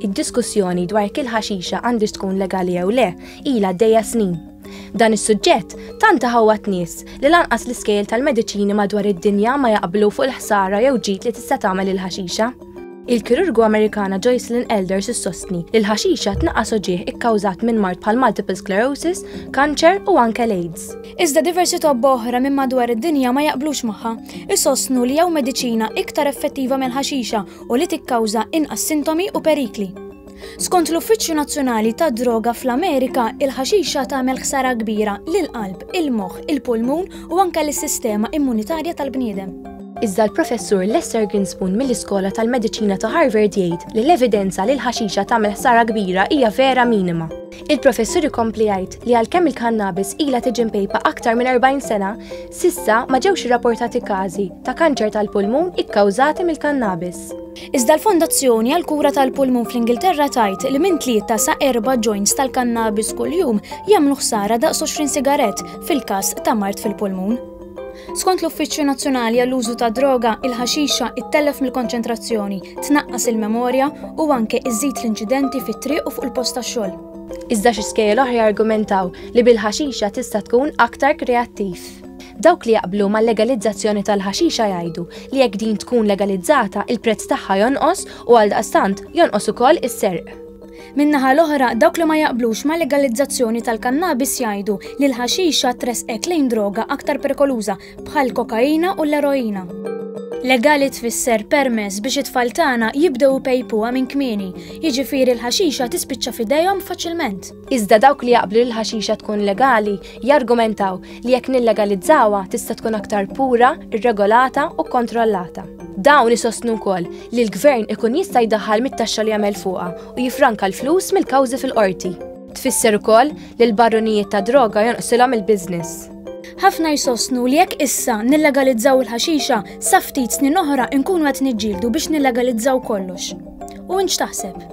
Id-diskussjoni dwar kil ħaxixa għandix tkun legali jew le, ila dejja snin. Dan is-suġġett tant ħawat nies li lanqas l-iskejl tal-mediċini madwar id-dinja ma jaqblu fuq il-ħsara jew ġid li tista' tagħmel il-ħaxixa. Il-kirurgu Amerikana Joycelyn Elders issostni li l-ħaxixa tnaqqas oġieħ ikkawżat minn mart bħal multiple sclerosis, kanċer u anke l-AIDS. Iżda diversi tobba oħra minn madwar id-dinja ma jaqblux magħha, issostnu li jew mediċina iktar effettiva mill-ħaxixa u li tikkawża inqas sintomi u perikli. Skont l-Uffiċċju Nazzjonali tad-Droga fl-Amerika, il-ħaxixa tagħmel ħsara kbira lill-qalb, il-moħħ, il-pulmun u anke lis-sistema immunitarja tal-bniedem. Iżda l-Professur Lester Grinspoon mill-Iskola tal-Mediċina ta' Harvard jgħid li l-evidenza li l-ħaxixa tagħmel ħsara kbira hija vera minima. Il-professur ikompli jgħid li għalkemm il-kannabis ilha tiġi mpejpa aktar minn 40 sena, sissa ma ġewx irrapportati każi ta' kanċer tal-pulmun ikkawżati mill-kannabis. Iżda l-Fondazzjoni għal kura tal-pulmun fl-Ingilterra tajt li minn tlieta sa erba' joints tal-kannabis kuljum jagħmlu ħsara daqs 20 sigarett fil-każ ta' mart fil-pulmun. Skont l-Uffiċċju Nazzjonali għall-Użu tad-Droga, il-ħaxixa ittellef mill-konċentrazzjoni, tnaqqas il-memorja u anke iżżid l-inċidenti fit-triq u fuq il-post tax-xogħol. Iżda xi skejjel oħra jargumentaw li bil-ħaxixa tista' tkun aktar kreattiv. Dawk li jaqblu mal-legalizzazzjoni tal-ħaxixa jgħidu li jekk din tkun legalizzata, il-prezz tagħha jonqos u għaldaqstant, jonqos ukoll is-serq. Min-naħa l-oħra, dawk li ma jaqblux ma' legalizzazzjoni tal-kannabis jgħidu li l-ħaxixa tresqek lejn droga aktar perikoluża bħal kokaina u l-eroina. Legali tfisser permess biex it-tfal tagħna jibdew pejpuha minn kmieni, jiġifieri l-ħaxixa tispiċċa f'idejhom faċilment. Iżda dawk li jaqblu l-ħaxixa tkun legali jargumentaw li jekk nillegalizzawha tista' tkun aktar pura, irregolata u kontrollata. Dawn isostnu wkoll li l-gvern ikun jista' jdaħħal mit-taxxa li jagħmel fuqha u jifranka l-flus mill-kawżi fil-qorti. Tfisser ukoll li l-barrunijiet ta' droga jonqsilhom il-business. Ħafna jsostnu li jekk issa nillegalizzaw il-ħaxixa, sa ftit snin oħra nkunu qed niġġieldu biex nillegalizzaw kollox. U int x'taħseb?